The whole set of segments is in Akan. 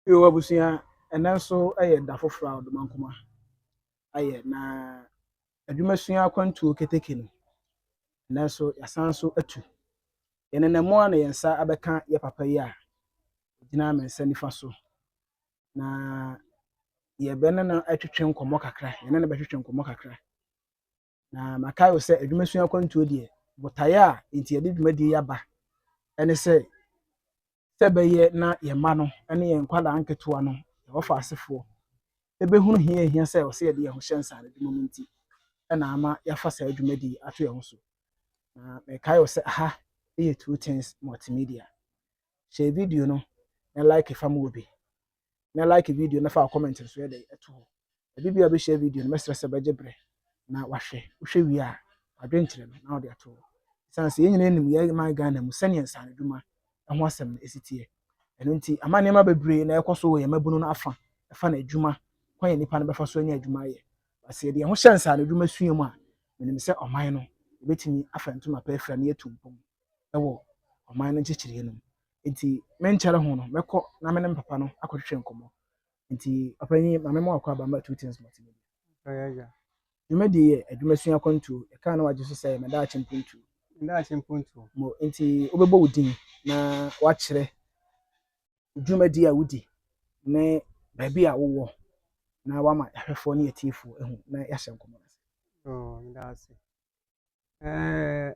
Yoo abusua, ɛnɛ nso yɛ da foforɔ a Odomankoma ayɛ na adwumasua akwantuo keteke no, ɛnɛ nso yɛasan nso atu. Yɛnenam mu a na yɛn nsa abɛka yɛn papa yi a ɔgyina me nsa nifa so na yɛbɛne no atwetwe nkɔmmɔ kakra, yɛne no bɛtwetwe nkɔmmɔ kakra. Na makae wo sɛ adwumasua akwantuo deɛ, botaeɛ a nti yɛde dwumadie yi aba ne sɛ sɛ bɛyɛ na yɛn mma no ne yɛn nkwadaa nketewa no yɛn wɔfa asefoɔ ɛbɛhunu hia ɛhia sɛ ɔsɛ yɛde yɛn ho hyɛ nsaano adwuma mu nti ɛna ama yɛafa saa dwumadie yi ato yɛn ho so na mɛkae wo sɛ aha ɛyɛ two things multimedia hyɛ video no na like fa ma obi na like video na fa comment nso yɛ dɛ ɛto hɔ ebi bi a bɛhyɛ video no mɛsrɛ sɛ bɛgye berɛ na wahwɛ wohwɛ wie a wadwenkyerɛ no na ɔde ato hɔ ɛsiane sɛ yɛn nyinaa nim yɛn man Ghana mu sɛnea nsaanodwuma ɛho asɛm no ɛsi teɛ ɛno nti ama nneɛma bebree na ɛkɔ so wɔ yɛn mabunu no afa ɛfa na adwuma kwan yɛ nipa no bɛfa so anya adwuma ayɛ basɛ yɛde yɛn ho hyɛ nsaanodwuma sua mu a menim sɛ ɔman no ɛbɛtumi afa ntoma pɛ afira ne yɛtu mpɔm ɛwɔ ɔman no nkyekyere no mu nti menkyɛre ho no mɛkɔ na me ne me papa no akɔtwetwe nkɔmmɔ nti papa yi maame mu akɔ aba two things multimedia dwumadi yɛ adwuma sua akwantuo ɛkaa na wagye so sɛ meda akye mpontuo meda akye mpontuo mo nti wobɛbɔ wo din na wakyerɛ dwumadi a wodi ne baabi a wowɔ na wama ahwɛfoɔ ne atiefoɔ ahu na yɛahyɛ nkɔmmɔ no ase meda ase Ɛɛ,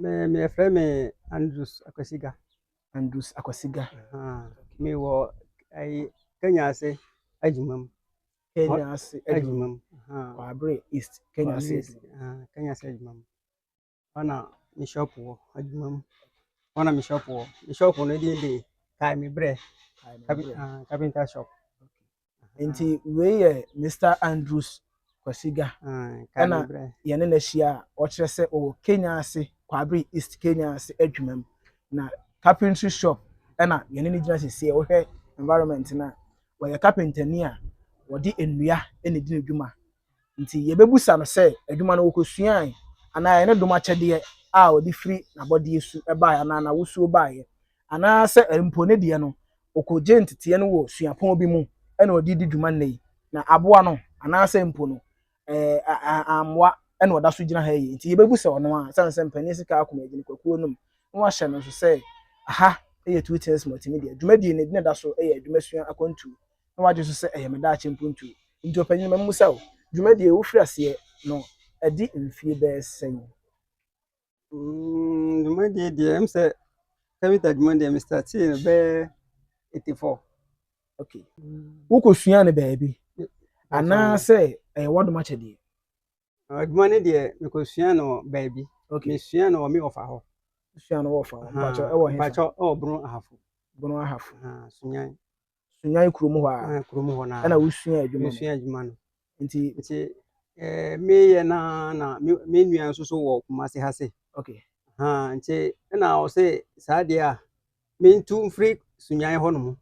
me me yɛfrɛ me Andrews Akwasiga. Andrews Akwasiga. Me wɔ ɛyi Kenya ase adwuma mu. Kenya ase adwuma mu. Kwabre East Kenya ase adwuma. Kenya ase adwuma mu. Ɔna me shop wɔ adwuma mu. Ɔna me shop wɔ. Me shop no din de Kae me brɛ. Kae me brɛ. Carpenter shop. nti wei yɛ Mister Andrews Kwasiga ɛna yɛne no ahyia a ɔkyerɛ sɛ ɔwɔ Kenya ase Kwabere East Kenya ase adwuma mu na carpentry shop ɛna yɛne no gyina sisi wohwɛ environment no a wɔyɛ carpenter ni a wɔde nnua ɛna di ne dwuma Enti yɛbɛbisa no sɛ adwuma no ɔkɔsuae anaa ɛyɛ ne dom akyɛdeɛ a ɔde firi n'abɔdeɛ su baeɛ anaa n'awosuo baeɛ, anaa sɛ mpo ne deɛ no ɔkɔgyee nteteɛ no wɔ suapɔn bi mu na ɔde redi dwuma nnɛ yi, na aboa no anaa sɛ mpo no ammoa na ɔda so gyina ha yi. Enti yɛbɛbisa ɔno ara, ɛsiane sɛ mpanin sika akoma agye nnipakuo no mu, na wɔahyɛ no nso sɛ ha yɛ Turitensmɔ enti ne deɛ dwumadie no ɛdina da so yɛ adwumasua akwantuo na wagye so sɛ ɛyɛ me daakye mpontuo. Nti ɔpanyin, ma memmisa wo, dwumadie yi wofiri aseɛ no adi mfie bɛyɛ sɛn? Mm, dwumadie deɛ ɛm sɛ carpenter adwuma deɛ me startee no bɛyɛ 84. Okay. Wokɔsuaa no baabi anaasɛ ɛyɛ w'adom akyɛdeɛ? Adwuma no deɛ mekɔsua no baabi. Okay. Mesua no wɔ me ɔfa hɔ. Sua no wɔ ɔfa hɔ. Mpakyɛ ɛwɔ he? Mpakyɛ ɛwɔ Bono Ahafo. Bono Ahafo. Sunyan. sunyan kurom hɔ a eh, kurom hɔ na ɛna wosua adwuma no wosua adwuma no nti nti eh, meyɛ na na me nua nso so wɔ kumase ha se okay ha nti ɛna ɔse saa deɛ a mentu mfiri sunyan hɔ nom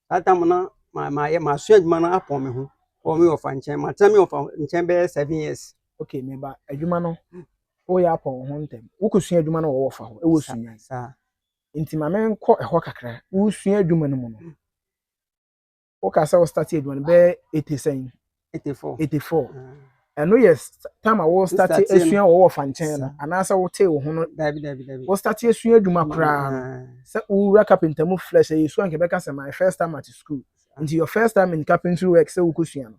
saa tam no ma ma yɛ ma sua adwuma no apɔn me ho wɔ me ɔfa nkyɛn ma tena me ɔfa nkyɛn bɛyɛ seven years okay me ba adwuma no woyɛ apɔn ho ntɛm wokɔsua adwuma no wɔ wɔfa hɔ ɛwɔ sunyan saa nti ma menkɔ ɛhɔ kakra. Wosua adwuma no mu no, woka sɛ wo start adwuma no bɛyɛ eighty sɛn? Eighty four. Eighty four. Mm. Ɛno yɛ tam a wo start asua wɔ wɔ fa nkyɛn no anaasɛ wotee wo ho no. Dabi dabi dabi. Wo start asua adwuma mm, koraa no mm. sɛ wowura carpenter mu flesh ɛyɛ sua nkɛbɛka sɛ my first time at school. Nti your first time in carpentry work sɛ wokɔsua no.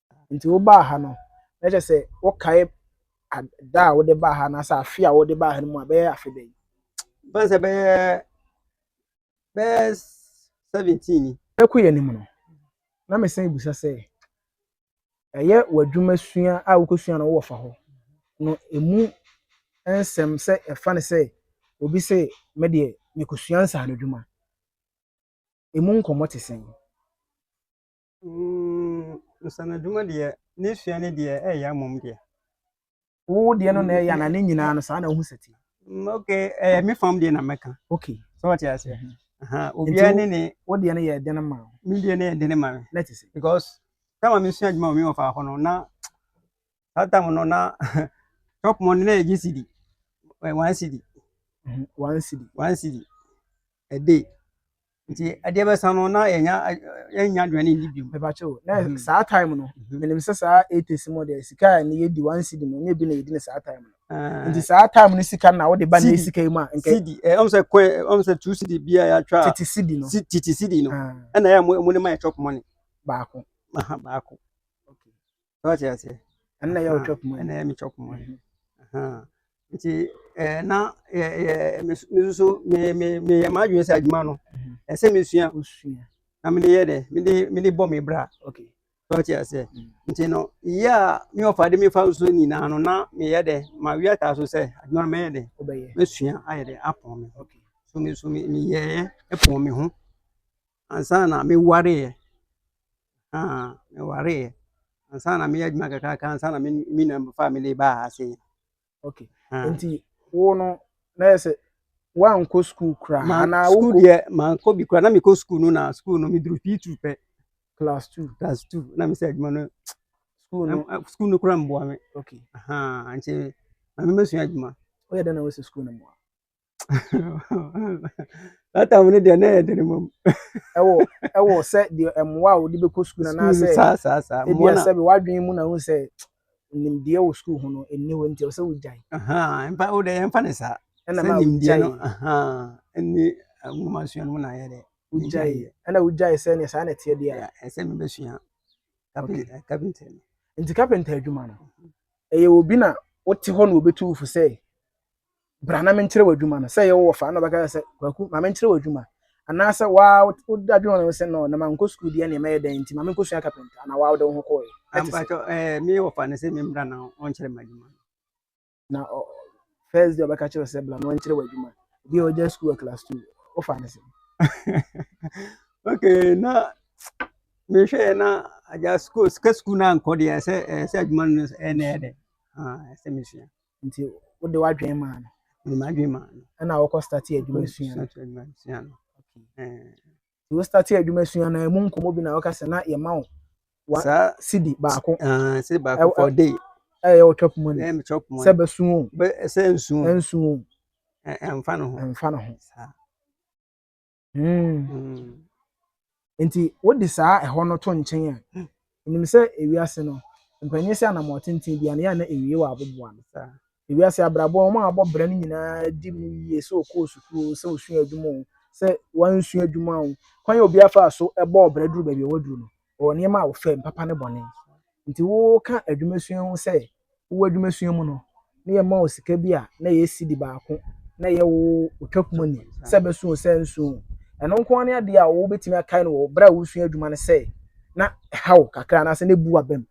Nti wobaa ha no, na kyerɛ sɛ wokae da a wode baa ha anaasɛ afe a wode baa ha no mu a bɛyɛ afe bɛn? Bɛn sɛ bɛyɛ bɛyɛ seventeen ni. Ɛkɔ yɛn anim no, na mesan bisa sɛ ɛyɛ w'adwuma sua a wokɔsua no wɔ fa hɔ no ɛmu nsɛm sɛ ɛfa no sɛ obi sɛ me deɛ mekɔsua nsaano adwuma ɛmu nkɔmmɔ te sɛn? Mm, nsanadwuma deɛ ne sua no deɛ ɛyɛ amom deɛ. wo deɛ no na ɛyɛ na ne nyinaa no saa na wohu sɛ ti. Mm, ok ɛyɛ me fam deɛ na mɛka. ok sɛ wɔte aseɛ. Mhm. obiara ne ne. wo deɛ no yɛ ɛde no ma wo. me deɛ no yɛ ɛde no ma me. na ti sɛ. because time a mesua adwuma wɔ me wɔfa hɔ no na That time no na shop money na yɛgye cedi. Eh, one cedi. Mm-hmm. One cedi. One cedi. A day. Nti ɛdeɛ bɛsa no na yɛnya yɛnya aduane ndi bi. Bɛbakyɛ o. Na mm-hmm. saa time no. Mm-hmm. Menim sɛ saa eighties mu deɛ sika a ne yɛdi one cedi no ne bi na yɛdi ne saa time no. Ah. Nti saa time no sika na wode ba ne sika yi mu a. Cedi. Eh, ɔm sɛ kɔɛ eh, ɔm sɛ two cedi bi a yɛatwa. Tete cedi no. Tete cedi no. Ah. Ɛna yɛ mo ne ma yɛ chop money. Baako. Aha baako. so ɔte aseɛ ɛnna yɛ ɔtwa kuma ɛnna yɛ metwa kuma nti ɛɛ na yɛ yɛ me nso me me me yɛ maa adwene sɛ adwuma no ɛsɛ me sua na me de yɛ dɛ me de me de bɔ me bra okay so ɔte aseɛ nti no yɛ a me ɔfa de me fa nso nyinaa no na me yɛ dɛ ma wi ata so sɛ adwuma no mɛyɛ dɛ mɛsua ayɛ dɛ apɔn me okay so me so me me yɛ ɛpɔn me ho. ansa na mewareeɛ ah mewareeɛ ansa na meyɛ adwuma kakraka ansa na me nua fa me de baa ha ase okay ah. nti wo no na yɛ sɛ woankɔ sukuu koraa anaa wokɔ deɛ mankɔ bi koraa na mekɔ sukuu no na sukuu no meduru fii tu pɛ class two class two na mesɛ adwuma no sukuu no sukuu no koraa mboa me okay aha nti na memɛsua adwuma woyɛ dɛn na wosɛ sukuu no mmoa latam no deɛ na ɛyɛ dene mom ɛwɔ ɛwɔ sɛ deɛ mmoa a wɔde bɛkɔ sukuu no anaasɛ saa saa saa ebi mmoa na asɛ bi wadwene mu na ho sɛ nimdeɛ wɔ sukuu ho no ɛnni hɔ nti ɛwɔ sɛ wogyae ahaa mpa wo deɛ yɛmfa ne saa ɛna sɛ ma nimdeɛ no wogyae ahaa ɛne nwoma sua no mu na ayɛ dɛ wogyae Menyaeɛ. ɛna wogyae sɛ ne saa na ɛteɛ deɛ a ɛsɛ mebɛsua Okay. kapentɛ no nti kapenta adwuma no ɛyɛ obi na wote hɔ na wɔbɛtu wo fo sɛ Bra na menkyerɛ w'adwuma no. Sɛ ɛyɛ wo wɔfa a, na ɔbɛka kyerɛ sɛ, Kwaku, ma menkyerɛ w'adwuma. Anaasɛ wo ara wode adwene wo ho sɛ, No, na mankɔ sukuu deɛ ɛnneɛ mɛyɛ dɛn nti, ma menkɔsua kapɛnta. Anaa wo ara wode wo ho kɔeɛ. Ɛte sɛ. Mpakyɛw, ɛɛ, me wɔfa no sɛ memmra na ɔnkyerɛ m'adwuma no. Na ɔ, first day ɔbɛka kyerɛ wo sɛ, Bra na ɔnkyerɛ w'adwuma. Ebi a ɔgya sukuu wɔ class two. Wofa no sɛn? Okay, na mehwɛeɛ na agya sukuu, sika sukuu no ankɔ deɛ, ɛsɛ, ɛsɛ adwuma no ɛna ɛyɛ dɛ. Ah, ɛsɛ mesua. Nti wode w'adwene maa no. Mede m'adwene maa no. Ɛna wokɔ starte adwuma sua no. adwuma sua no. Nti wo starte adwuma sua no ɛmu nkɔmmɔ bi na woka sɛ na yɛma wo wa sidi baako. Sidi baako for day. Ɛyɛ wo chop money. Ɛyɛ me chop money. Sɛ bɛsu o. Sɛ nsu o. Nsu o. Ɛmfa no ho. Ɛmfa no ho. Saa. Mm. nti wode saa ɛhɔ no to nkyɛn a hmm. nim sɛ ewiase no mpanyin sɛ anam ɔtenten bi anayɛ na ewie wɔ aboboa no ewiase abrabɔ wɔn a abɔ brɛ no nyinaa di mu yie sɛ ɔkɔɔ sukuu sɛ ɔsua adwuma o sɛ wansua adwuma o kwan yɛ obi afa so ɛbɔ ɔbrɛ duru baabi a waduru no wɔ nneɛma a wɔfam, papa ne bɔne. Nti woka adwumasua ho sɛ wowɔ adwumasua mu no na yɛma wo sika bi a na ɛyɛ sidi baako na ɛyɛ wo otwakum ani sɛ bɛso sɛ nso ɛno nko ara ne adeɛ a wobɛtumi akae no wɔ berɛ a wosua adwuma no sɛ na ɛha wo kakra anaasɛ na ɛbu w'abam.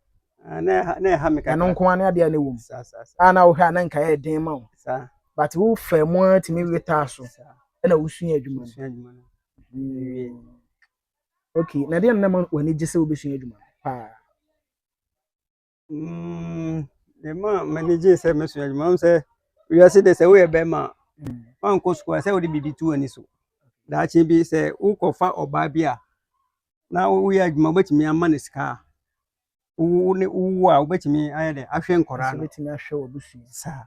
Ah, na ɛha na ɛha me kakra. Ɛno nko ara ne adeɛ a na ɛwɔ mu. Saa saa saa. A na wohwɛ a na nka ɛyɛ den ma wo. Saa. But wo fɛ mu ara tumi wetaa so. Saa. Ɛna wosua adwuma no. Wosua adwuma no. Mm. Okay, na deɛ na ma w'ani gye sɛ wobɛsua adwuma paa? Mm, deɛ ma m'ani gye sɛ mɛsua adwuma m sɛ wiase de sɛ woyɛ bɛrima a mm. woankɔ sukuu a sɛ wode biribi to w'ani so daakye bi sɛ wokɔfa ɔbaa bi a na woyɛ adwuma wobɛtumi ama no sika a wo ne wowu a wobɛtumi ayɛ dɛ ahwɛ nkɔraa no wobɛtumi ahwɛ wabusua saa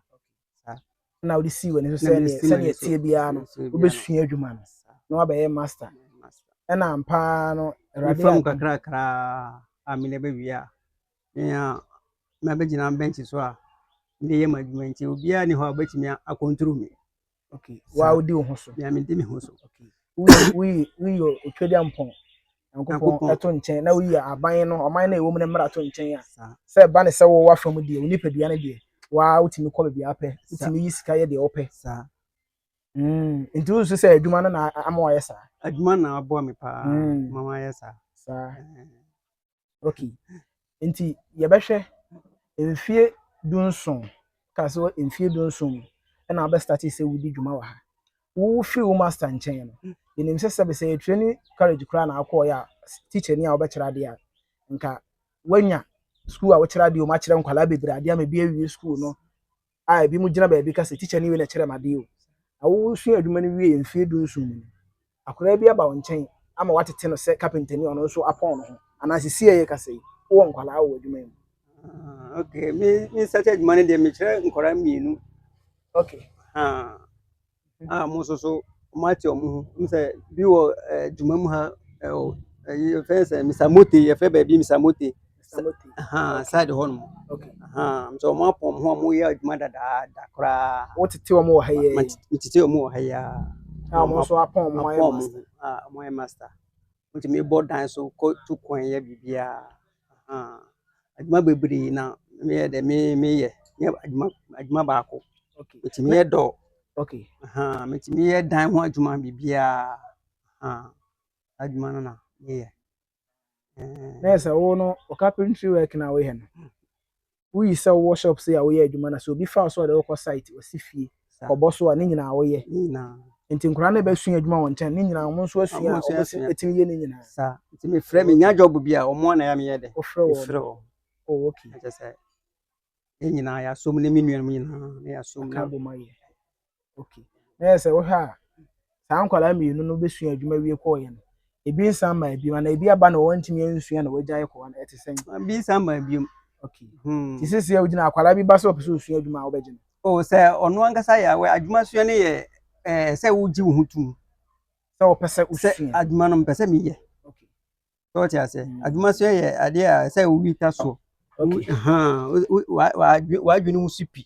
na wode sii w'ani so sɛ sɛdeɛ ɛteɛ biara no wobɛsua adwuma no na wabɛyɛ master ɛna ampaa no awurade kakrakra a mene bɛwie a mea mabɛgyina bɛnkye so a mede yɛ m'adwuma nti obiara ni hɔ a wobɛtumi akɔnturu me Okay. Wa odi wo ho so. Ya me di me ho so. Okay. Wi wi yo otwedi ampon. Nyankopɔn ɛto nkyɛn na woyi aban no ɔman no ɛwɔ mu no mmara to nkyɛn a sɛ ɛba ne sɛ wɔ wafa mu deɛ wo nipadua no deɛ waa wotumi kɔ baabi apɛ wotumi yi sika yɛ deɛ wopɛ mm. nti wosusu sɛ adwuma no na ama wayɛ saa adwuma na aboa me paa mm. ma wayɛ saa saa Okay, nti yɛbɛhwɛ mfie dunson, ka sɛ wɔ mfie dunson mu ɛna abɛ start sɛ wodi dwuma wɔ ha. Wo firi wo master nkyɛn no, yɛnim sɛ sɛbe sɛ yɛ training college koraa na akɔɔ yɛ a teacher ni a wobɛkyerɛ adeɛ a, nka wanya school a wokyerɛ adeɛ wɔ mu akyerɛ nkwadaa bebree adeɛ ama bi awie school no. a ebinom gyina baabi ka sɛ, Tikya no wei na ɛkyerɛɛ me ade yi o. Na wosua adwuma no wiee mfe dunson mu no, akwadaa bi aba wo nkyɛn ama woatete no sɛ kapentani a ɔno nso apɔn ne ho. Anaa seesei a yɛrekasa yi, wowɔ nkwadaa wɔ w'adwuma yi mu. Ah, okay. Me, me nsa kyɛ adwuma no deɛ mekyerɛ nkwadaa mmienu. Okay. Ah. a wɔn nso so wɔate wɔn ho. N sɛ bi wɔ eh, dwuma mu ha ɛwɔ eh, ɛyi yɛfrɛ no sɛ Mr. Mote yɛfrɛ baabi Mr. Mote Samoti. ahaa Okay. side hɔ nom Okay. ahaa nso wɔn apɔn wɔn ho a wɔyɛ adwuma dadaada koraa Wo tete wɔn wɔ ha yɛ. Ma- yi. ma- metete wɔn wɔ ha yi ara A wɔn nso apɔn wɔn ayɛ apɔn wɔn master. ho a wɔyɛ master Wotumi bɔ dan so kɔ tu kwan yɛ biribiara. Ahaa. Adwuma bebree na meyɛ dɛ me meyɛ. Nyɛ adwuma adwuma baako. Okay. Metumi yɛ dɔ. Okay. Ahaa. Metumi yɛ dan ho adwuma biribiara. Ahaa. Adwuma no na meyɛ. Na yɛ sɛ wo no wo carpentry work na woyɛ no. woyi sɛ wowɔ shop sei a woyɛ adwuma na sɛ obi fa wo so a ɔde wokɔ site ɔsi fie kɔbɔ so a ne nyinaa woyɛ ne nyinaa nti nkwadaa no bɛsua adwuma wɔn nkyɛn ne nyinaa wɔn nso asua a wɔn atumi yɛ ne nyinaa saa nti mefrɛ me nya job bi a wɔn a na yɛ meyɛ dɛ wofrɛ wɔn mefrɛ wɔn oh okay ɛkyɛ sɛ ne nyinaa yɛasom ne me nuanom nyinaa na yɛasom ka bɔ ma yɛ Okay. Na yɛ sɛ wohwɛ a saa nkwadaa mmienu no bɛsua adwuma wie kɔɔyɛ no ebi nsan ma ebi na ebi aba na wɔntumi ansua na wɔagya ayɛ kɔwa no ɛte sɛn. Ebi nsan ma ebi mu. Okay. Hmm. Ti sisi a wogyina akwadaa bi ba sɛ ɔpɛ sɛ osua adwuma a wobɛgye no. O oh, sɛ ɔno ankasa yɛ awɛ adwuma sua no yɛ ɛɛ eh, sɛ wogye wo ho tum. Sɛ ɔpɛ sɛ osua. Sɛ adwuma no mpɛ sɛ meyɛ. Okay. sɛ ɔte aseɛ mm. adwuma so yɛ adeɛ a sɛ wowi ta soɔ wadwene mu so pi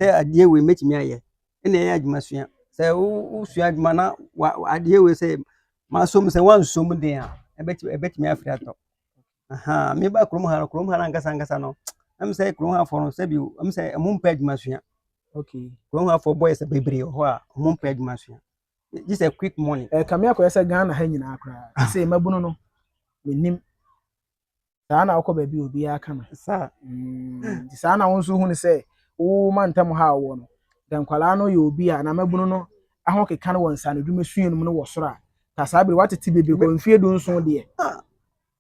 sɛ adeɛ wei mɛtumi ayɛ ɛna ɛyɛ adwuma sua sɛ wosua adwuma na adeɛ wei sɛ masom sɛ woansom den a ɛbɛtumi afiri atɔ meba kurom ha no kurom ha no ankasa ankasa no ɛm sɛ kurom hafoɔ no sɛbi ɛm sɛ ɛmo mpɛ adwuma sua kurom hafoɔ bɔyɛ sɛ bebree wɔ hɔ a ɔmo mpɛ adwuma sua this a quick money. ẹ eh, kàmi akọyẹ sẹ ghana ha nyinaa koraa ah. sẹ mmabunu no menim saa na wokɔ baabi obiara ka no saa mm, saa na wo nso hu no sɛ wo ma ntam ha wɔ no dɛ nkwadaa no yɛ obi a na mmabunu no aho keka no wɔ nsanodwuma sua no mu no wɔ soro a ta saa bere watete bebree kɔ mfie du nson deɛ ah.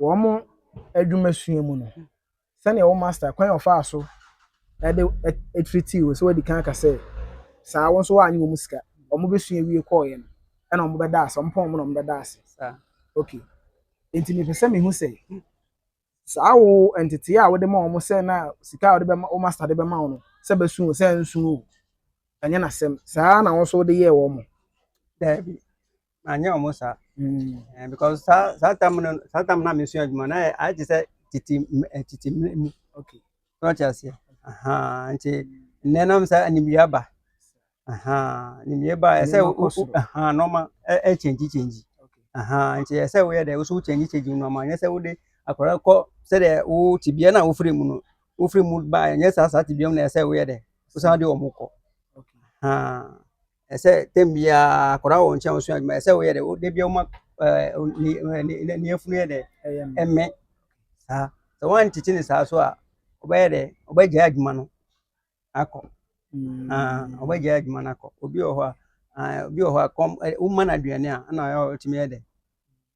wɔn adwumasua mu no, sɛnea wo master kwan a ɔfaa so ɛde ɛtiriti wo sɛ wadi kan aka sɛ saa wɔn nso wɔanyɛ wɔn sika wɔn bɛsua wie kɔɔeɛ no ɛna wɔn bɛda ase wɔn pɔn wɔn na wɔn bɛda ase ok nti mepɛ sɛ mehu sɛ saa wo ntetee a wode ma wɔn sɛ na sika a wode bɛma wo master de bɛma wɔn no sɛ bɛsu o sɛ nsu o ɛnyɛ n'asɛm saa na wɔn nso wode yɛɛ wɔn. daabi anyɛ wɔn saa mm. because saa saa tam no saa tam na mesua adwuma na ayɛ te sɛ tete tete mmerɛ mu okay so ɔte aseɛ nti nnɛ nam sɛ animyɛ aba animyɛ ba ɛsɛ nɔɔma ɛkyɛngyi kyɛngyi nti ɛsɛ woyɛ dɛ woso wokyɛngyi kyɛngyi nɔɔma nyɛ sɛ wode akwadaa kɔ sɛdeɛ wo tibea no a wofiri mu no wofiri mu baa ɛnyɛ saa saa tibea mu na ɛsɛ woyɛ dɛ wosan de wɔn kɔ ɛsɛ tɛm biara akwadaa wɔ nkyɛn ɔsua adwuma ɛsɛ woyɛ dɛ de bia woma ne afunu yɛ dɛ ɛmɛ saa sɛ woantete ne saa so a wobɛyɛ dɛ wobɛgyae adwuma no akɔ wobɛgyae adwuma no akɔ obi wɔ hɔ a obi wɔ hɔ a kɔm woma no aduane a ɛna ɔtumi yɛ dɛ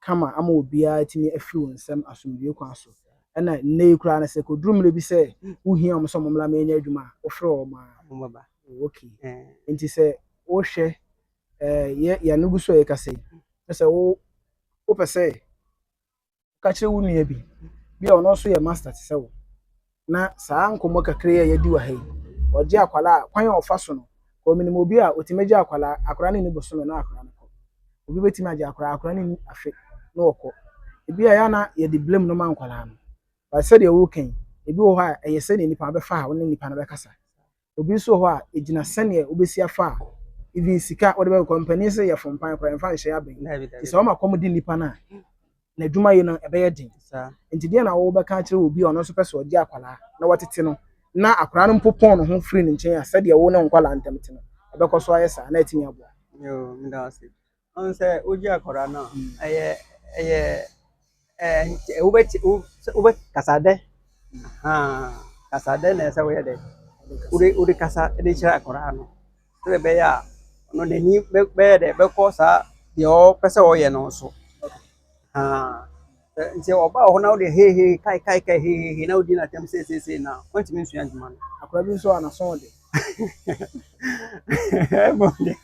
kama ama obiara atumi afi wo nsam asomdwoe kwan so. Ɛna nnɛ yi koraa no, sɛ ɛkɔduru mmerɛ bi sɛ wohia wɔn sɛ wɔmmra mmɛnyɛ adwuma a, wofrɛ wɔn a, wɔbɛba. Oh, okay. Nti sɛ wohwɛ eh, yɛ, yɛn gu so a yɛkasa yi, na sɛ wo, wopɛ sɛ ka kyerɛ wo nua bi, bi a ɔno nso yɛ master te sɛ wo, na saa nkɔmmɔ kakra yi a yɛadi wɔ ha yi, ɔgye akwadaa a, kwan a ɔfa so no, kɔ menim obi a ɔtumi gye akwadaa, akwadaa no nni bosome na akwadaa no kɔ. Obi bɛtumi agye akwadaa, akwadaa no nni afe na ɔkɔ. Ebi a ɛyɛ na yɛde blame no ma nkwadaa no. But sɛdeɛ woka yi, ebi wɔ hɔ a ɛyɛ sɛdeɛ nipa bɛfa a wo ne nipa no bɛkasa. Obi nso wɔ hɔ a, egyina sɛdeɛ wobɛsi afa a, even sika wode bɛkɔ kɔ, mpanin se yɛ fompan koraa, ɛmfa nhyɛ aba yi. Nti sɛ ɔma kɔm de nipa no a, n'adwuma yɛ no ɛbɛyɛ den. Nti deɛ na wobɛka akyerɛ obi a ɔno nso pɛ sɛ ɔgye akwadaa na watete no na akwadaa no mpo pɔn ne ho firi ne nkyɛn a, sɛdeɛ wo ne wo nkwadaa ntam te no, ɛbɛkɔ so ayɛ saa na atumi aboa. Yoo, meda wo ase. Ɔno sɛ wogye akwadaa no a, ɛyɛ ɛyɛ ɛɛ wobɛti wo sɛ wobɛ kasa dɛ haa kasa dɛ na ɛsɛ woyɛ dɛ wode wode kasa de kyerɛ akwadaa no sɛdeɛ ɛbɛyɛ a ɔno n'ani bɛ bɛyɛ dɛ bɛkɔ saa deɛ ɔpɛ sɛ ɔyɛ no so haa. Nti ɔbaa wɔ hɔ na wode hei hei kai kai kai hei hei hei na wodi n'atɛm sei sei sei na wantumi nsua adwuma no. Akora bi nso a n'aso ɔde. Ɛmɔ deɛ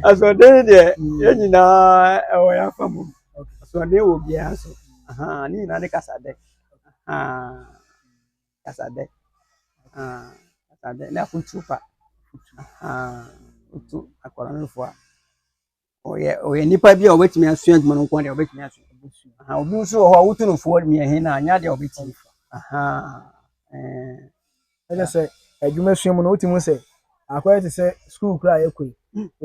asoɔden deɛ yɛn nyinaa ɛwɔ yɛn afa mu asoɔden wɔ biara so ne nyinaa ne kasadɛ kasadɛ kasadɛ ne afotuo pa otu akora no fo a. ɔyɛ ɔyɛ nipa bi a ɔbɛtumi asua adwuma no nko deɛ ɔbɛtumi asua aha obi nso wɔ hɔ a wotu no foɔ deɛ he na anya deɛ ɔbɛtumi aha ɛne sɛ adwuma sua mu no wotumi sɛ akɔyɛ te sɛ sukuu kora a yɛkɔ yi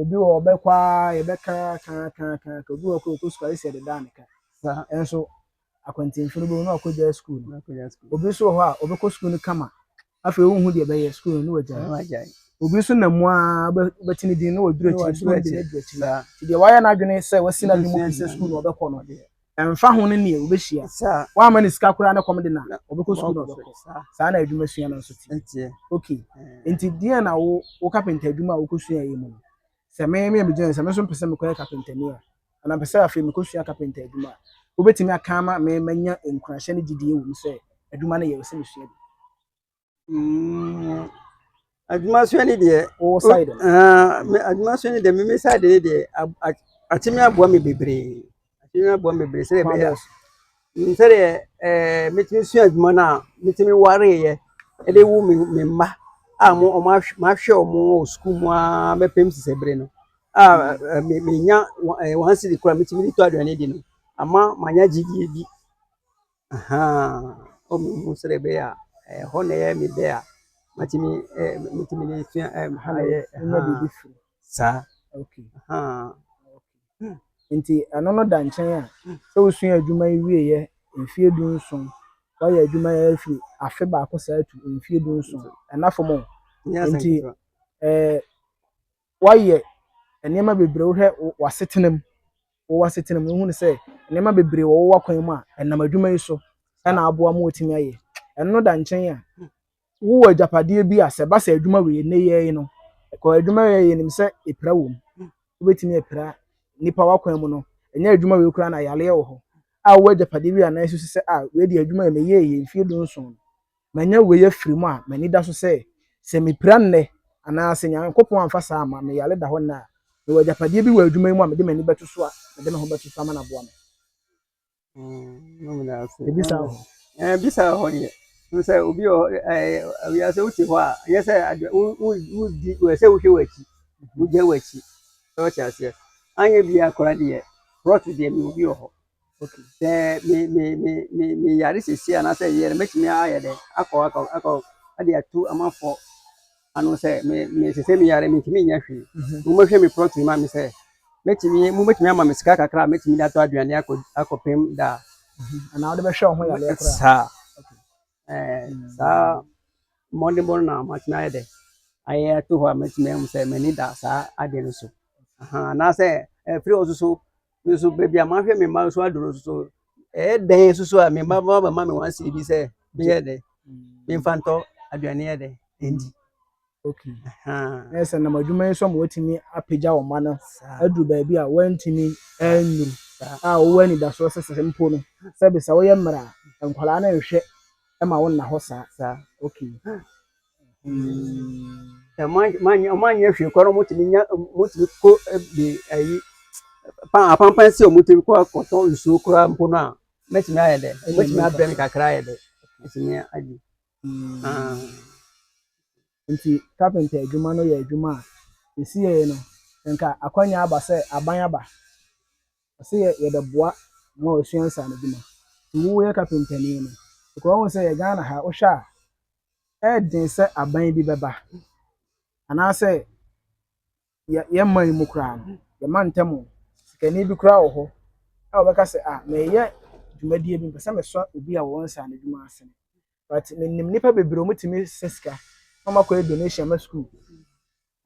obi wɔ ɔbɛkɔ a yɛbɛka kakakaka obi wɔ kɔ ɔkɔ sukuu ayɛ sɛ ɛdeda ne ka ɛnso akwantinfo no bɛhu na ɔkɔgya sukuu no obi nso wɔ hɔ a ɔbɛkɔ sukuu no kama afei wonhu deɛ ɛbɛyɛ sukuu no na wagyae obi nso nam mu ara wobɛte ne din na waduru akyiri na ɔde no adu akyiri nti deɛ wayɛ n'adwene sɛ wasi n'adwene mu sɛ sukuu na ɔbɛkɔ no ɛmfa ho ne neɛ wobɛhyia woamma ne sika koraa ne kɔm de na ɔbɛkɔ sukuu na ɔbɛkɔ saa na adwuma sua no nso te ok nti deɛ na wo wo kapenta adwuma a wokɔsua yɛ mu no Sɛ me a megyina ha yi, sɛ me nso mepɛ sɛ mekɔyɛ kapentani a, anaa mepɛ sɛ afei mekɔsua kapenta adwuma a, wobɛtumi aka ama me manya nkuranhyɛ ne gyedie wɔ mu sɛ adwuma no yɛ, ɛwɔ sɛ mesua bi? Mm, adwumasua no deɛ wowɔ side no? Ah, me adwumasua no deɛ me me side no deɛ akye me aboa me bebree Akyire no aboa me bebree sɛdeɛ ɛbɛyɛ a mm, sɛdeɛ ɛɛ eh, metumi sua adwuma no a metumi wareeɛ ɛde wo me me mma a mo ɔmo ahwɛ mahwɛ ɔmo wɔ sukuu mu ara bɛpem sisɛ bere no a ɛɛ, me menya wɔn ɛɛ wɔn asidi koraa metumi de tɔ aduane di no ama manya gyidie bi Ahaa, o mehu sɛdeɛ ɛbɛyɛ a ɛhɔ na ɛyɛ me dɛ a matumi ɛɛ matumi de sua ɛɛ ha na ɛyɛ ahaa saa okay ahaa. Nti ɛno no da nkyɛn a sɛ wosua adwuma yi wieɛ mfeɛ du nson woayɛ adwuma yi afiri afe baako saa tu mfeɛ du nson ɛna fam o nti ɛɛ. woayɛ nneɛma bebree wohwɛ w'asetena mu wɔ w'asetena mu wohunu sɛ nneɛma bebree wɔ wo wakwan mu a ɛnam adwuma yi so ɛna aboa ma wɔtumi ayɛ ɛno da nkyɛn a wowɔ agyapadeɛ bi a sɛ ba sɛ adwuma wei ne yɛ yi no ɛkɔ adwuma yɛ yɛ nim sɛ epira wɔ mu wobɛtumi apira nipa wakwan mu no ɛnyɛ adwuma wei koraa na yaleɛ wɔ hɔ a wowɔ agyapadeɛ bi a nan sisi sɛ a wei deɛ adwuma yɛ meyɛ yɛ mfie du nson Manya wei afiri mu a, m'ani da so sɛ, sɛ mepira nnɛ, anaa sɛ Nyankopɔn amfa saa amma, meyare da hɔ nnɛ a, mewɔ agyapadeɛ bi wɔ adwuma yi mu a mede m'ani bɛto so a, mede me ho bɛto so ama no aboa me. Yɛbisa wɔ hɔ. Bisa wɔ hɔ deɛ. Hu sɛ obi wɔ hɔ, wiase wote hɔ a, ɛnyɛ sɛ wodi, wɔ sɛ wohwɛ w'akyi, wogya w'akyi. Sɛ wɔte aseɛ. Anyɛ bi akora deɛ, prɔto deɛ mewɔ bi wɔ hɔ. Okay. Sɛ me me me me me yare sisi anaasɛ yɛ no mɛtumi ayɛ dɛ akɔ akɔ akɔ ade atu amafo ano sɛ me me sɛ sɛ me yare me ntumi nyɛ hwee. Mhm. Mo mɛhwɛ me plot ma me sɛ mɛtumi mo mɛtumi ama me sika kakra a mɛtumi de atɔ aduane akɔ akɔpem da. Mhm. Anaa wode bɛhwɛ wo ho yare koraa. Saa. Ɛɛ, saa mmɔdenbɔ no na matumi ayɛ dɛ ayɛ ato hɔ a matumi ahu sɛ m'ani da saa ade no so. Aha, anaasɛ ɛfiri hɔ nso so nso baabi a mahwɛ me mma nso aduru nso so ɛyɛ dɛn nso so a me mma bɛma bɛma me wansie bi sɛ meyɛ dɛ memfa ntɔ aduane yɛ dɛ ɛndi. Okay. Uh-huh. Na sɛ nam adwuma yi so ma watumi apagya wɔn mma no aduru baabi a wɔntumi nnuru a wɔwɔ anidasoɔ sɛ sɛ mpo no sɛ bisa woyɛ mmerɛ a nkwadaa no nhwɛ ma wo nna hɔ saa. Saa okay. Ɔmanyɛ hwee kɔ no motumi nya motumi kɔ de ayi apampan sɛ ɔmotumi kɔ akɔtɔ nsuo koraa mpo no a mɛtumi ayɛ dɛ mɛtumi abrɛ me kakra ayɛ dɛ mɛtumi agye. Nti kapenta adwuma no yɛ adwuma a sesei no nka akwanya aba sɛ aban aba ɔse yɛ yɛbɛboa ma wasua nsaano adwuma nti woyɛ kapentani no because wahu sɛ yɛ Ghana ha wohwɛ a ɛɛden sɛ aban bi bɛba anaasɛ yɛ yɛn man yi mu koraa no, yɛn mantam no, sikani bi koraa wɔ hɔ a ɔbɛka sɛ, ah, mereyɛ dwumadie bi, mepɛ sɛ mesɔ obi a ɔwɔ nsa no adwuma ase. But menim nnipa bebree a wɔtumi sɛ sika na wɔakɔyɛ donation ama sukuu.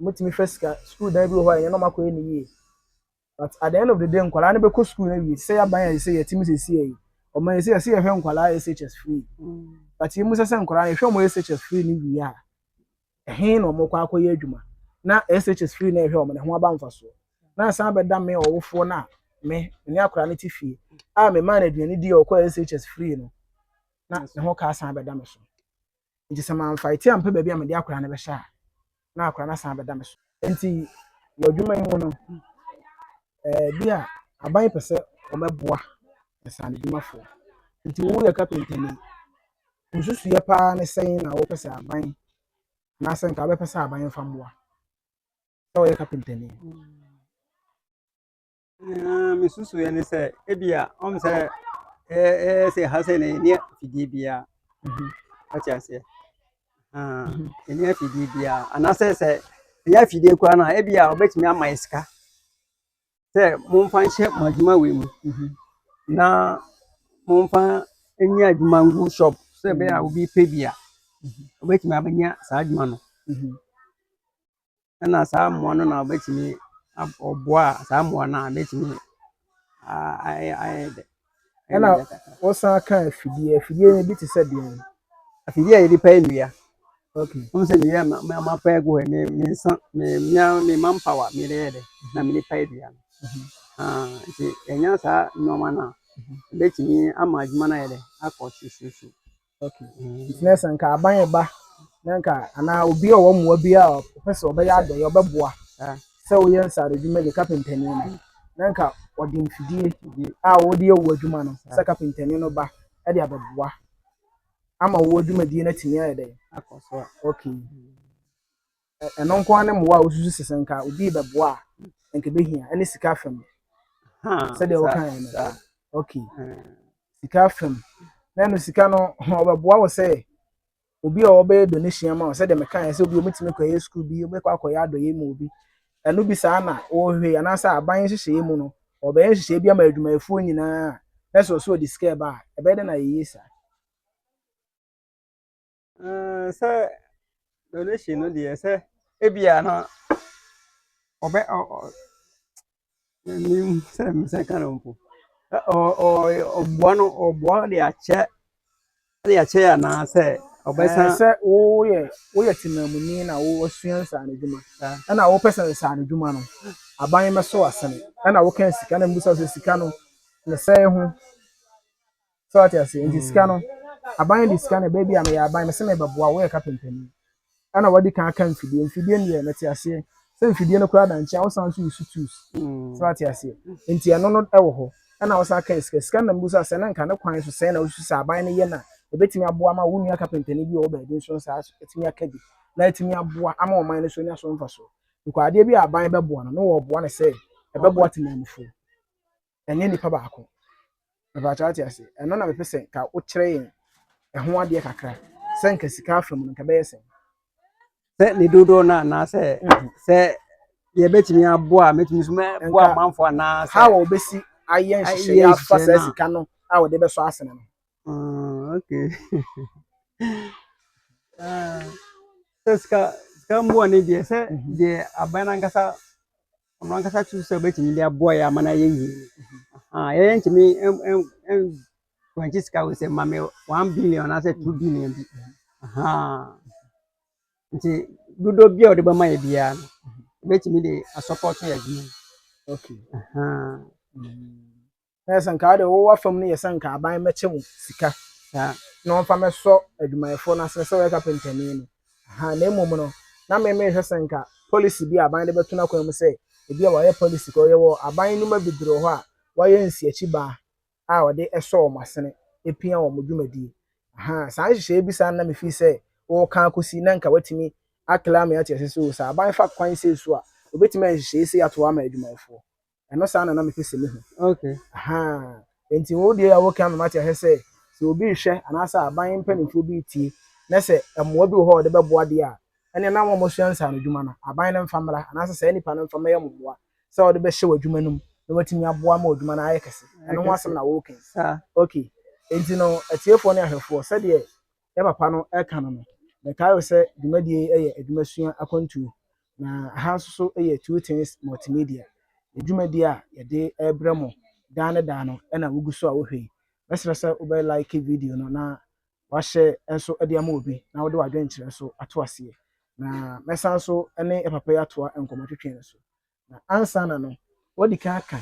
Wɔtumi fa sika, sukuu dan bi wɔ hɔ a ɛyɛ na wɔakɔyɛ no yie. But at the end of the day nkwadaa no bɛkɔ school no awie te sɛ yaban a yɛsɛ sɛ yɛtim sesie yi ɔma yɛsɛ yɛsɛ yɛhwɛ nkwadaa SHS free but yɛmu sɛ sɛ nkwadaa yɛhwɛ ɔmo SHS free no wie a ɛhe na ɔmo kɔ akɔyɛ adwuma na SHS free na ɛhwɛ ɔmo na ho aba mfasoɔ na asan bɛda me ɔwofoɔ no a me ne akwadaa no te fie a me maa no aduane di a ɔkɔ SHS free no na ne ho ka asan bɛda me so. Nti sɛ mamfaete ampɛ baabi a mede akwadaa no bɛhyɛ a, na akwadaa no asan abɛda me so. Nti wɔ adwuma yi mu no, eh, bi a aban pɛ sɛ wɔbɛboa nsaano adwumafoɔ. Nti woyɛ kapentani, nsusuiɛ paa ne sɛn na wopɛ sɛ aban anaasɛ nka wobɛpɛ sɛ aban mfa mmoa sɛ woyɛ kapentani? Ah, me susu yɛ ne sɛ ebia ɔm sɛ ɛɛ sɛ ha sɛ na ɛnyɛ fidie bia ɔte aseɛ ɛnyɛ fidie bia anaasɛ sɛ ɛnyɛ fidie koraa no a ebia ɔbɛtumi ama yɛ sika sɛ momfa nhyɛ mo adwuma wei mu na momfa nyɛ adwuma ngu shop sɛ ɛbɛyɛ a obi pɛ bi a ɔbɛtumi abɛnya saa adwuma no ɛna saa mmoa no na wɔbɛtumi aboa a saa mmoa no a bɛtumi ayɛ ayɛ dɛ. ɛna wɔsan ka afidie afidie no bi te sɛ deɛn afidie a yɛde pɛ nnua okay wɔn sɛ nnua ma ma pɛ gu hɔ me me nsa me me me ma mpawa me de yɛ dɛ na me de pɛ nnua no nti ɛnya saa nneɛma no a ɛbɛtumi ama adwuma no ayɛ dɛ akɔ susuusu. Okay. Mm. Nti na sɛ nka aban ɛba na nka anaa obi a ɔwɔ mmoa bi a ɔpɛ sɛ ɔbɛyɛ adɔeɛ ɔbɛboa Ah, sɛ woyɛ nsaano adwuma ne kapentani no mm, na nka ɔde mfidie ye. a wɔde yɛ wo adwuma no sɛ Ah, kapentani no ba de abɛboa ama wo dwumadie no atumi ayɛ dɛn akɔ so a. okay Mm. Ɛ- Ɛno nko ara ne mmoa a wosusu sɛ sɛ nka obi rebɛboa a, nka ebehia. Ɛne sika fam, Huh, sɛdeɛ sa, wokaeɛ no. sa. Okay. Hmm. Sika fam. Na ɛno sika no, ɔbɛboa wo sɛ obi a ɔbɛyɛ donation ama wo sɛdeɛ mekaeɛ sɛ obi a ɔbɛtumi akɔyɛ sukuu bi, ɔbɛkɔ akɔyɛ adɔyɛ mu obi. Ɛno bi saa na wɔhwɛ anaasɛ aban nhyehyɛeɛ mu no, ɔbɛyɛ nhyehyɛeɛ bi ama adwumayɛfoɔ nyinaa a, na sɛ ɔsɛ ɔde sika ɛba a, ɛbɛyɛ dɛ na yɛyɛ saa. Eh, sɛ donation no deɛ sɛ ebia no ɔbɛ nim sɛ mesɛ ka no mpo Ɛ- ɔ- ɔ- ɔboa no ɔboa de akyɛ de akyɛ anaasɛ ɔbɛsa Eh, sɛ woyɛ woyɛ temamuni na wosua nsaano adwuma saa ɛna wopɛ sɛ nsaano adwuma no aban bɛso asene ɛna woka sika na mbusa wo sɛ sika no ne sɛe ho So wate aseɛ? Nti sika no, aban de sika no ɛbɛyɛ bi a meyɛ aban, mese merebɛboa wo, woyɛ kapentani. Ɛna wadi kan aka mfidie, mfidie no deɛ mete aseɛ sɛ mfidie no koraa da nkyɛn a wosan nso wusu tools. Mm. So wate aseɛ? Nti ɛno no ɛwɔ hɔ. Ɛna wosan aka sika, sika no na mebusa sɛ na nka ne kwan so sɛn na wosusu sɛ aban no yɛ na ɛbɛtumi aboa ma wo nua kapentani bi a ɔwɔ baabi nso saa ɛtumi aka bi na ɛtumi aboa ama ɔman no so nya so mfasoɔ. Because adeɛ bi a aban bɛboa no, na wɔboa no sɛ ɛbɛboa temanmufoɔ. ɛnyɛ nipa baako mepatwɛ ate ase ɛno na mepɛ sɛ ka wokyerɛ yɛn ɛho adeɛ kakra sɛ nka sika afa mu no nka bɛyɛ sɛ sɛ ne dodoɔ no anaasɛ mhm. sɛ deɛ bɛtumi aboa a mɛtumi so mɛboa amanfo anaasɛ ha wɔ wobɛsi ayɛ nhyehyɛeɛ afa saa sika no a wɔde bɛsɔ asene no ah, okay ah, sɛ sika sika mboa ne deɛ sɛ mhm. deɛ aban no ankasa ɔno ankasa tu sɛ ɔbɛtumi de aboa yɛ ama no ayɛ yie yɛyɛ ntumi wankye sika wo sɛ ma me one billion anaasɛ two billion bi nti dodoɔ bi a ɔde bɛma yɛ biara no ɛbɛtumi de asɔpɔto yɛ adwuma okay. na yɛ sɛ nka wode wowɔ w'afam no yɛ sɛ nka aban mɛkyɛ wo sika na ɔmfa mɛsɔ adwumayɛfoɔ no asene sɛ wɔyɛ kapentani no ahaa na mmom no na me mehwɛ sɛ nka policy bi a aban de bɛto n'akwan mu sɛ ebi a wɔayɛ policy kɔ yɛwɔ aban nnwuma bebree wɔ hɔ a wɔayɛ nsiakyi baa a wɔde ɛsɔ wɔn asene epia wɔn dwumadie ahaa saa nhyehyɛeɛ bi saa na me fii sɛ wɔka akɔsi na nka watumi akla me ate ase sɛ o sɛ aban fa kwan sei so a obɛtumi ayɛ nhyehyɛeɛ sei ato hɔ ama adwumayɛfoɔ ɛno saa na na mepɛ sɛ mehu okay ahaa nti wo deɛ a woka mema te ahwɛ sɛ sɛ obi rehwɛ anaasɛ aban mpanimfoɔ bi retie na sɛ mmoa bi wɔ hɔ a wɔde bɛboa deɛ a ɛne na wɔn wɔsua nsa ano adwuma no aban no mfa mmra anaasɛ saa nipa no mfa mmɛyɛ mo mmoa sɛ wɔde bɛhyɛ wɔ adwuma no mu na watumi aboa ma adwuma no ayɛ kɛse ɛno ho asɛm na woka okay nti no atiefoɔ ne ahwɛfoɔ sɛdeɛ yɛn papa no reka no no, yɛtaa yɛ sɛ dwumadie yi yɛ adwumasua akwantuo, na aha nso so yɛ Two Things Multimedia. Dwumadie a yɛde rebrɛ mo daa ne daa no na wogu so a wohwɛ yi. Mɛsrɛ sɛ wobɛ like video no na wahyɛ nso de ama obi na wode w'adwenkyerɛ nso ato aseɛ. Na mɛsan nso ne yɛn papa yi atoa nkɔmmɔtwetwe no so. Na ansaana no, wadi kan aka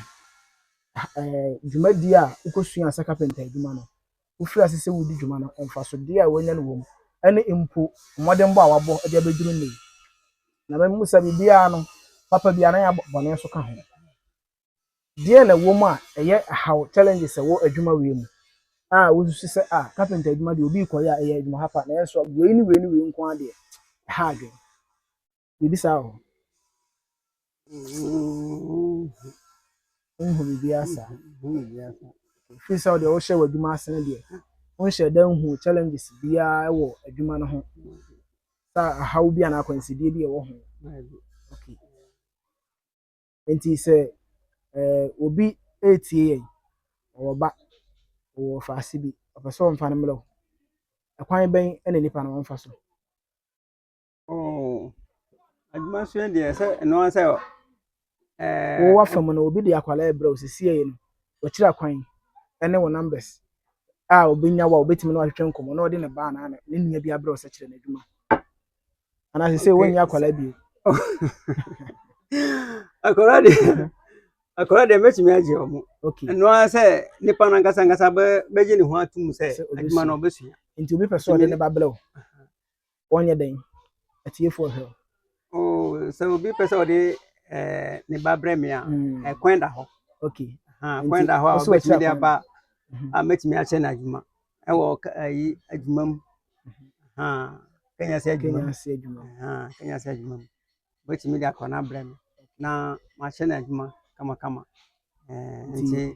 dwumadie a wokɔsuaa sɛ kapɛnta adwuma no, wofiri ase sɛ wodi dwuma no, mfasodeɛ a wanya no wɔ mu, ne mpo mmɔdenbɔ a wabɔ de abɛduru nnɛ yi. Na mɛmmisa biribiara no, papa bi anaa bɔne nso ka ho. Deɛn na ɛwɔ mu a ɛyɛ haw, challenges, ɛwɔ adwuma wei mu a wosusu sɛ ah kapɛnta adwuma deɛ obi rekɔyɛ a ɛyɛ adwuma hapa nanso wei ne wei ne wei nko ara deɛ ɛha adwene. Yɛbisa o. Wonhu biribiara saa. Ɛfiri sɛ wodeɛ wohyɛ w'adwuma ase no deɛ, wonhyɛ da nhu challenges biara wɔ adwuma no ho. Sɛ ahaw bi anaa akwansideɛ bi a ɛwɔ ho. Okay. Nti sɛ eh, obi retie yɛn, ɔwɔ ba, ɔwɔ ɔfaase bi, ɔpɛ sɛ ɔmfa no mmerɛ o. Ɛkwan bɛn na nipa no ɔmfa so? Oh, adwuma so yɛ deɛ sɛ ɛno ara sɛ ɛɛ. Wowɔ afam no obi de akwadaa ɛbrɛ wo sisi yɛ no wɔkyerɛ kwan ɛne wo numbers a obenya wo a obetumi na wahwehwɛ nkɔmɔ na ɔde ne ba anaa ne nua bi abrɛ wo sɛ kyerɛ n'adwuma anaa sisi okay. wɔnyɛ akwadaa bi. akwadaa de akwadaa de mɛtumi agye wɔn ɛno ara sɛ nipa no ankasa ankasa bɛgye ne ho atum sɛ adwuma no ɔbɛsua. nti obi pɛ sɛ ɔde ne ba brɛ wo. wɔnyɛ dɛn atiefo nhwɛ wo. Oh, sɛ obi pɛ sɛ ɔde eh, ne ba brɛ me a mm. eh, kwan da hɔ okay. ah, kwan da hɔ a ɔbɛtumi de aba mm-hmm. a mɛtumi ahyɛ no adwuma ɛwɔ ayi adwuma mu mm-hmm. kanya sɛ adwuma mu kanya sɛ adwuma mu ɔbɛtumi de akɔ no abrɛ me na mahyɛ no adwuma kamakama eh, nti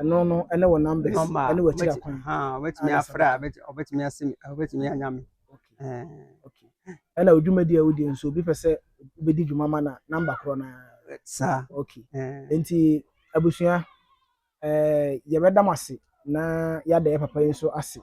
Ɛno no ne wo numbers Number, ne w'akyiri wobɛtumi, akwan. ha, wobɛtumi Ana afrɛ a, sɛnka. bɛt- wobɛtumi ase me, wobɛtumi anya me. Okay. Eh, Okay. Ɛna odwumadi a wodie nso obi pɛ sɛ wobɛdi dwuma ma na number korɔ no ara. Saa, Okay. eh, Nti abusua, eh, yɛbɛda mo ase na yɛada yɛ papa yi nso ase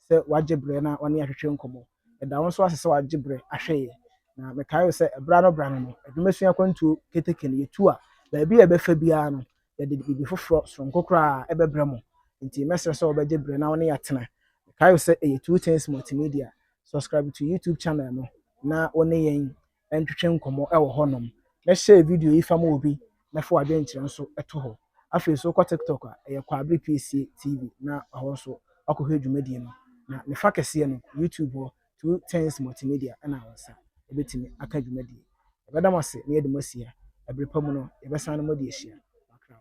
sɛ wagye berɛ na ɔne yɛn ahwehwɛ nkɔmmɔ. Ɛda wo nso ase sɛ wagye berɛ ahwɛ yɛn. Na mekae wo sɛ berɛ ano berɛ ano no, adwumasua akwantuo keteke no, yɛtu a, baabi a yɛbɛfa biara no, yɛde biribi foforɔ sononko koraa bɛbrɛ mo. Enti mɛsrɛ sɛ wobɛgye berɛ na wo ne yɛn atena. Mekae wo sɛ ɛyɛ Two Things Multimedia. Subscribe to YouTube channel no na wo ne yɛn ntwetwe nkɔmmɔ wɔ hɔnom. Mɛhyɛɛ video yi fa ma obi na fa w'adwenkyerɛ nso to hɔ. Afei nso wokɔ TikTok a, ɛyɛ Kwaabere Piesie TV na hɔ nso woakɔhwɛ dwumadie no. Na ne fa kɛseɛ no, YouTube hɔ, Two Tens Multimedia na wo nsa bɛtumi aka dwumadie. Yɛbɛda mo ase na yɛde mo asia. Ɛberɛ pa mu no, yɛbɛsane mo de ahyia. Makrao.